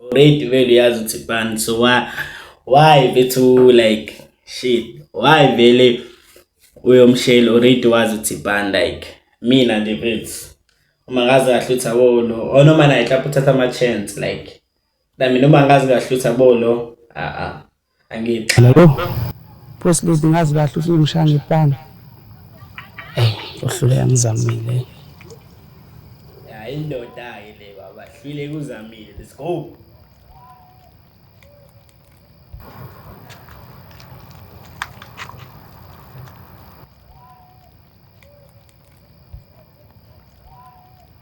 already vele uyazi ukuthi ban so why why bethu like shit why vele uyomshela already wazi ukuthi ban like mina nje bethu uma ngazi kahle ukuthi abo lo or noma naye mhlawumbe uthatha ama-chance like nami noma ngazi kahle ukuthi abo lo a-a Angithi. Lalo. Press lady ngazi kahle ukuthi ngishaya ngepanga. Eh, uhlule angizamile. Ya indoda ke le baba, hlile kuzamile. Let's go.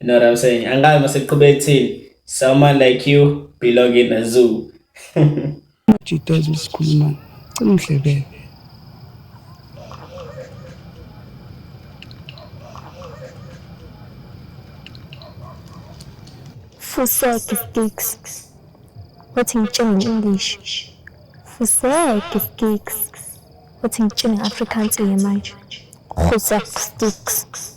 You know what I'm saying? Angazi maseqhube ekuthini someone like you belong in a zoo. Jitoza usikhuluma cima umhlebele. Fuseki sticks. Wathi ngitshenge nge-English. Fuseki sticks. Wathi ngitshenge nge-Afrikaans-ke manje. Fuseki sticks.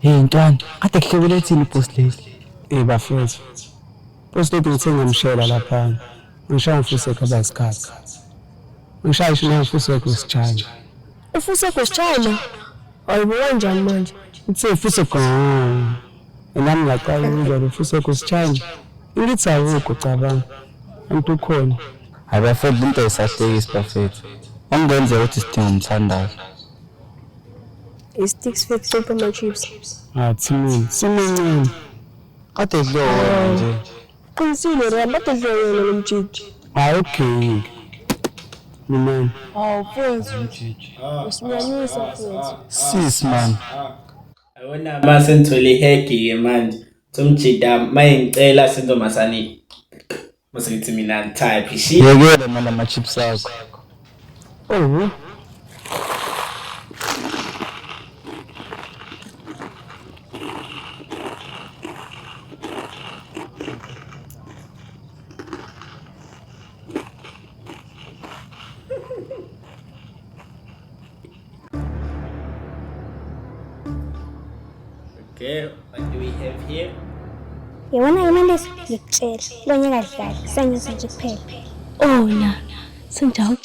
Hey ntwana, kade kuhlobele ethini post lady? Eh bafethu. Post lady ngithe ngamshela lapha. Ngishaya mfuse khaba isikhathi. Ngishaya isho ngifuse kusijana. Ufuse kusijana? Ayibo kanjani manje? Ngithe mfuse gone. nami ngaqala ukuzwa ukuthi usekusitshanje ngithi awukho cabanga anti ukhona hayi bafethu into ayisahlekisi bafethu okungenzeka ukuthi sidinga umthandazo isticks fethu sopa ama-chips athi mina simincane kade dliwa wena nje qinisile ram kade dliwa wena lo mjiji hayi ugeyingi lumani awu fethu usinyanyisa fethu sis mani Awona mase ngithole ihegi ke manje. Somjida maye ngicela sentombazane. Mase ngithi mina type shi. Yekela manje ama chips akho. Oh. Okay, what do we have here? Yewona imali leso ngikutshela. Lo nyaka dlala, sanyusa nje kuphela. Oh na, senjalo.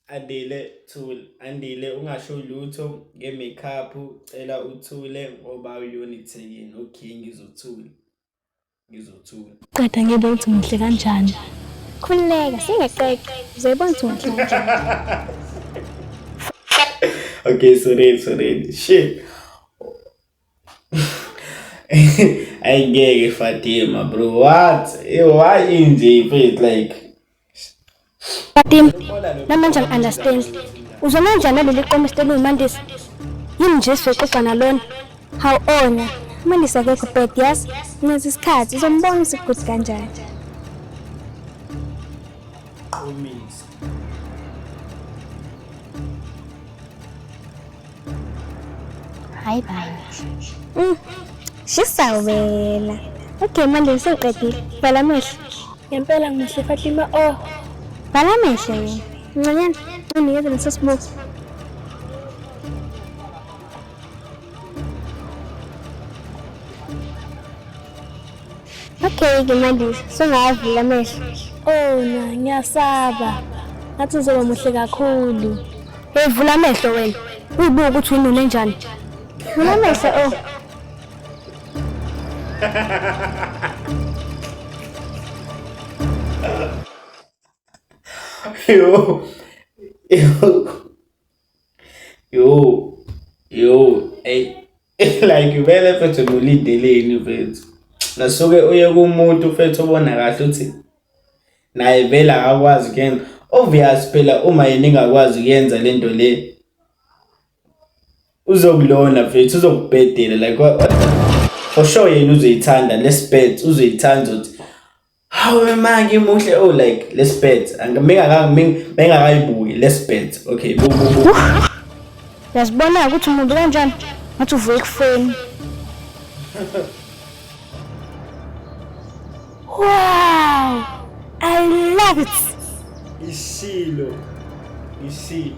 Andile thul, andile ungasho lutho ngemikhapu, cela uthule ngoba uyona ithekini, okay ngizothula. ngizothula qeda ngiyibona ukuthi ngihle kanjani khululeka singeqeqe uzoyibona ukuthi ngihle kanjani okay sorry sorry shit ayingeke fatima bro what eh, why inje faith like Batim, namanje ngi-understand. Uzona kanjani naleli qomo esiteni uMandisa? Yini nje sizoxoxa nalona? Hawu ona, uMandisa akekho bad yazi. Ngenza isikhathi, uzombona isiguthi kanjani. Qomisa. Hayi bani. Mm. Shisa wena. Okay manje sengiqedile. Vala amehlo. Ngempela ngimuhle Fatima. Oh. Vala amehlo wena. Ncanyana, unikeze leso sibuko. Okay-ke manje sungawavula amehlo. Oh na, ngiyasaba. Ngathi uzoba muhle kakhulu. Hey vula amehlo wena. Uyibuka ukuthi winone njani. Vula amehlo oh. Yo. Yo. Yo, yo, ey like vele mfethu nolindeleni mfethu. Nasuke uye kumuntu mfethu obona kahle uthi naye vele akakwazi kuyenza. Obvious phela uma yena engakwazi kuyenza lento le uzokulona mfethu uzokubhedela like for sure yena uzoyithanda lespet uzoyithanda ukuthi Hawu manje muhle oh like let's bet. Angimeka mengakayibuki let's bet. Okay. Uyazibona ukuthi umuntu kanjani? Ngathi uvuye ekufeni. Wow! I love it. Isilo. Isilo.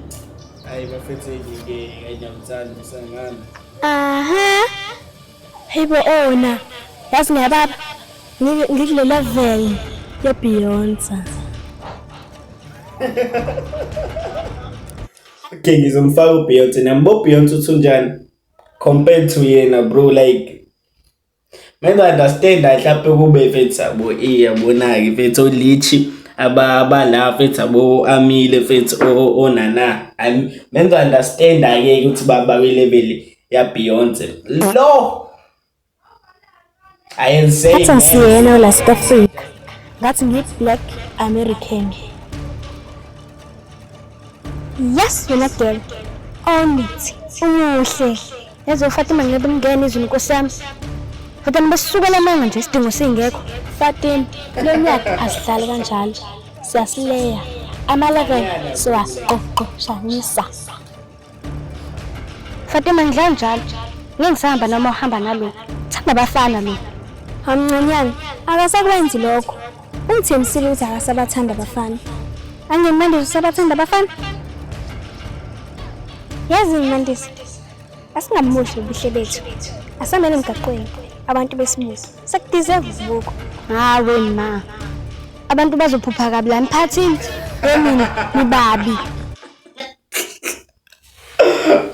Ay, bafethe ngeke ayinamthanda usangana. Aha. Uh -huh. Hayibo ona yazi ngiyababa ngikule level ye Beyonce. Okay ngizomfaka uBeyonce nambo Beyonce uthunjani compared to yena bro like Mina understand mhlawumbe kube mfethu abo iyabonake mfethu olichi abala mfethu abo amile mfethu onana mina understand ake ukuthi baba kwelebele ya Beyonce lo ayenze ngisiyena la South Africa ngathi ngi black American yes wena girl onit umuhle yazi uFatima ngeke ngene izulu nkosi yami Fatima besukela amanga nje isidingo singekho Fatima lonyaka asidlali kanjalo siyasileya amalevel siwaqoqoshanisa Fatima ngidlala njalo. Ngeke ngisahamba noma uhamba nalo. Thanda bafana lo. Hamncanyana, akasakwenzi lokho. Ungithembisile ukuthi akasabathanda abafana. Angenimandisa usabathanda abafana? Yazi ngimandisa. Asingamuhle ubuhle bethu. Asamele emgaqweni abantu besimusa. Sekudeserve ubuko. Hawe ma. Abantu bazophupha kabi la emphathini. Emini nibabi.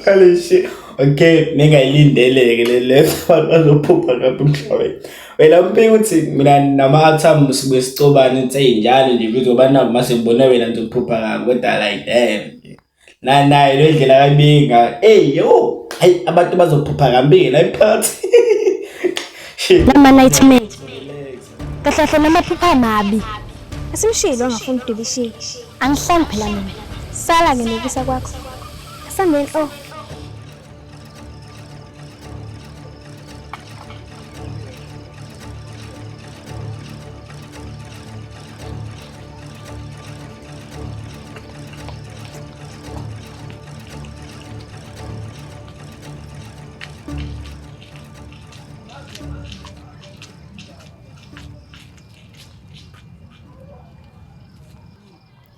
Holy shit. Okay, ningayilindeleke le left one bazophupha lapho emhlabeni. Wena umbika uthi mina nama-atom sibuye sicobane nse njalo nje futhi ngoba nabo uma sengibona wena ngizophupha kabi kodwa like damn. Na naye le ndlela kayibinga. Hey yo, hayi abantu bazophupha kambi la emphakathi. Shit. Nama nightmare. Relax. kahle kahle namaphupha amabi asimshilo angafuni udibishile angihlali phela mina sala ke nokusa kwakho asanenhlo oh.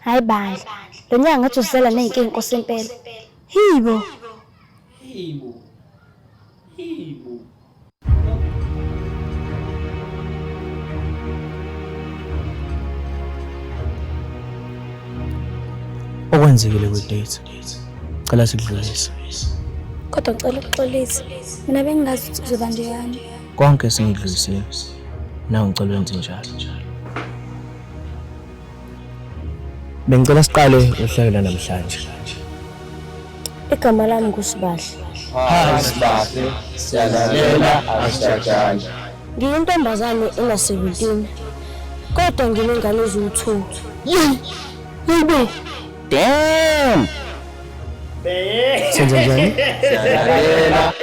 hayi bandla lo nyaka ngathi uzela ney'nkinga inkosi impela hibo Hibo. Hibo. okwenzekile kwi-date cela sikudlulise kodwa ngicela ukuxolisa mina bengingazi ukuthi kuzoba njeyani Konke esingidlulisiwe nawe ngicela wenze njalo. Bengicela siqale uhlelo lanamhlanje. Igama lami nguSibahle. Hi Sibahle, siyalalela asijajane. Ngiyintombazane ena 17 kodwa nginengane eziwu-2. Yey! Yebo! Damn! Senze njani? Siyalalela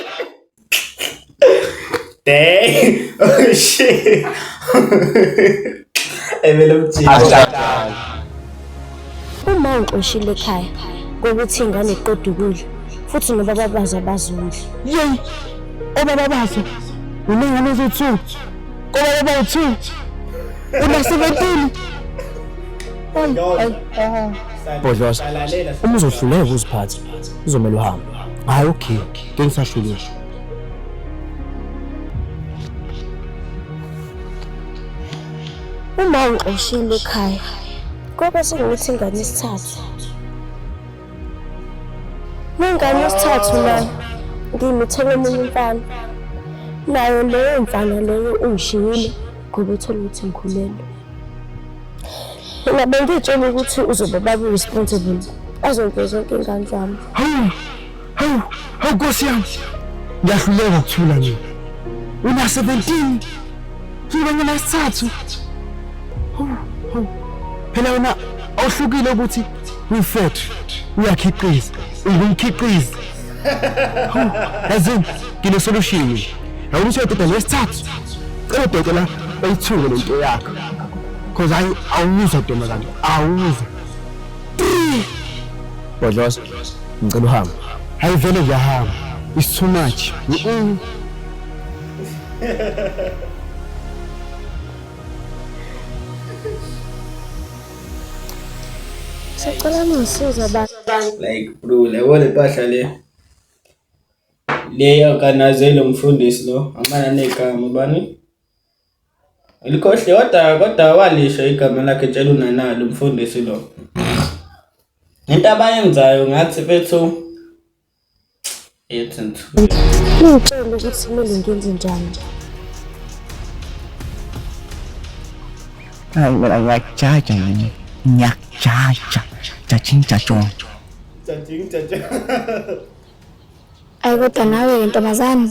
Dang! Oh shit! Evele umjika. Uma unqoshile ekhaya kokuthi ingane iqeda ukudla futhi nobaba bazo abazondli. Yeyi! Obaba bazo! Unengane eziwu-two! Kobaba bawu-two! Una-seventeen! Ayi, ayi, ayi. Bhodloza, uma uzohluleka ukuziphatha, kuzomele uhambe. Hhayi, okay. Bengisashulile. Uma ungixoshile ekhaya, kobe sengithi ingane isithathu. Nengane isithathu nayo ngimithele omunye umfana. Nayo leyo mfana leyo ungishiyile ngoba ethole ukuthi ngikhulelwe. Mina bengitshela ukuthi uzobe baba responsible azonke zonke ingane zami. Hawu, hawu Nkosi yami. Ngiyahluleka ukuthula mina. Una 17. Ngibona ngina isithathu. Hawu, hawu. Phela wena awuhlukile ukuthi uyifethu, uyakhiqiza, ungumkhiqizi. Hawu, yazi ngine solution. Hawu ukuthi uyododa lesithathu. Cela dokotela oyithuke lento yakho. Cause I awuza ntombazane, awuza. Bhodloza. ngicela uhambe hayi vele ngiyahamba it's too much sicela nisiza like bro lebo le mpahla le le organize lo mfundisi lo amana negama bani Ulikhohli kodwa kodwa walisho igama lakhe tshela unanali umfundisi lo. Into abayenzayo ngathi bethu ethi nthu. Ngicela ukuthi kumele ngenze njani. Hayi mina ngiyakujaja yini? Ngiyakujaja. Jajing jajong. Jajing jajong. Ayi kodwa nawe ntombazane.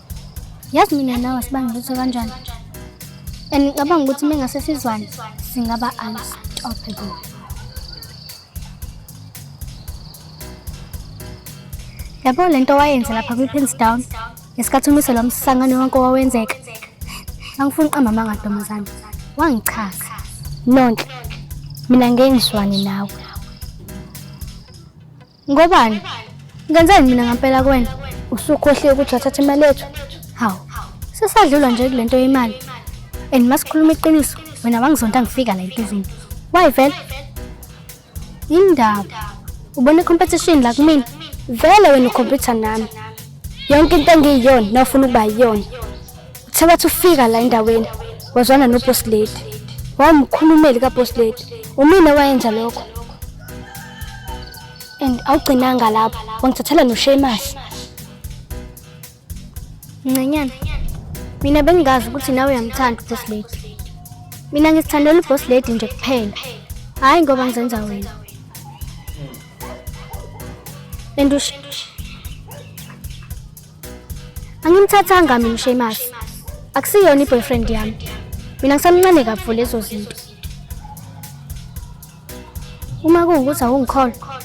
yazi mina nawe asibanga lutho kanjani and ngicabanga ukuthi uma ngase sizwane singaba unstoppable yabo le nto wayenze lapha kwi-pins down ngesikhathi umise lo msangano wonke owawenzeka angifuni uqamba amanga ntombazane wangichaza nonhle mina ngengizwane nawe Ngobani? Ngenzeni mina ngampela kuwena? Usukhohliwe ukuthi wathatha imali yethu? Hawu, sesadlula nje kule nto yemali. And masikhuluma iqiniso, wena wangizonda ngifika la empizini. Why vele? Indaba. Ubona competition la kumina. Vele wena ukhompyutha nami. Yonke into engiyiyona nofuna ukuba yiyona. Uthe wathi ufika la endaweni wazwana noboss lady. Wawumkhulumeli kaboss lady. Umina wayenza lokho. And awugcinanga lapho. Wangithathela noShemas. Ncanyana. Mina bengingazi ukuthi nawe uyamthanda uboss lady. Mina ngisithandela uboss lady nje kuphela. Hayi ngoba ngizenza wena. And ush Angimthathanga mina uSheamus. Akusiyona iboyfriend yami. Mina ngisamncane kakhulu lezo zinto. Uma kungukuthi awungikholwa,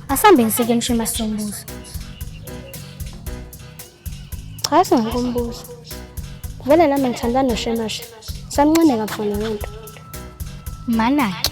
asambe ngisike uSheamus sombuzo. Cha singakumbuza. Vele nami ngithandana noSheamus. Samncane kakhulu lento. Manake.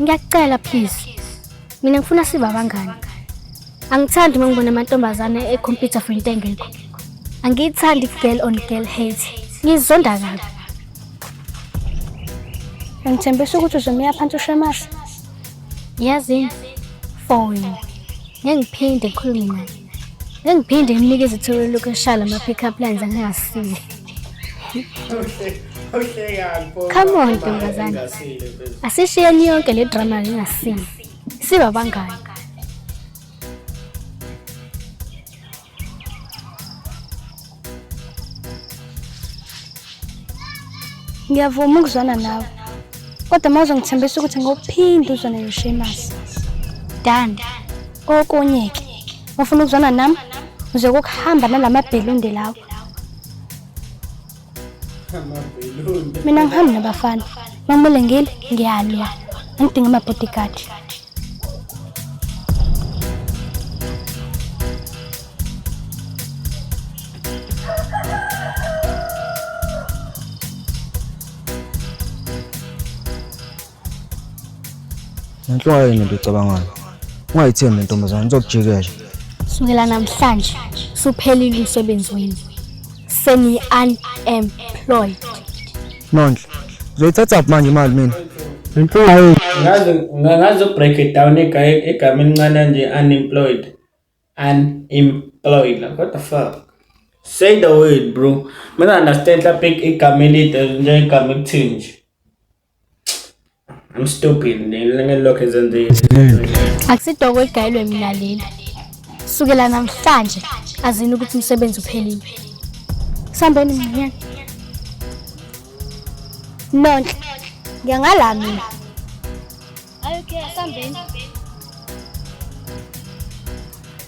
Ngiyakucela please. Mina ngifuna sibe abangani. Angithandi uma ngibona amantombazane e-computer for into engekho. Angiyithandi girl on girl hate. Ngizonda kabi. Ngithembisa ukuthi uzomiya phansi ushemase. Yazi for you. Ngiphinde ngikhulume naye. Engiphinde nginike izithuba lokushaya lama pick up lines angasile. Come on ntombazane. Asishiyeni yonke le drama lingasile. Siba bangani. ngiyavuma ukuzwana nawe kodwa uma uzongithembisa ukuthi ngophinde uzwane noshemas dan okunye-ke wafuna ukuzwana nami uze kokuhamba nala mabhelunde lawo mina ngihambi nabafana mamule ngile ngiyalwa angidinga amabodyguard Nanhlwa yini into ecabangayo? Ungayithembi le ntombazane izokujikela. Sukela namhlanje suphelile umsebenzi wenu. Seni-unemployed. Nonhle. Uzoyithatha kuphi manje imali mina? Inkinga yini? Ngaze ngaze break it down egaye egama elincane nje unemployed. Unemployed. Like, what the fuck? Say the word bro. Mina understand lapha igama elide nje igama ekuthini nje. I'm stupid ngelokho ezenzile. Akusidoko egayilwe mina leli. Sukela namhlanje azini ukuthi umsebenzi uphelile. Sambeni mnyana. Nonhle. Ngiyangala mina. Ayokhe sambeni.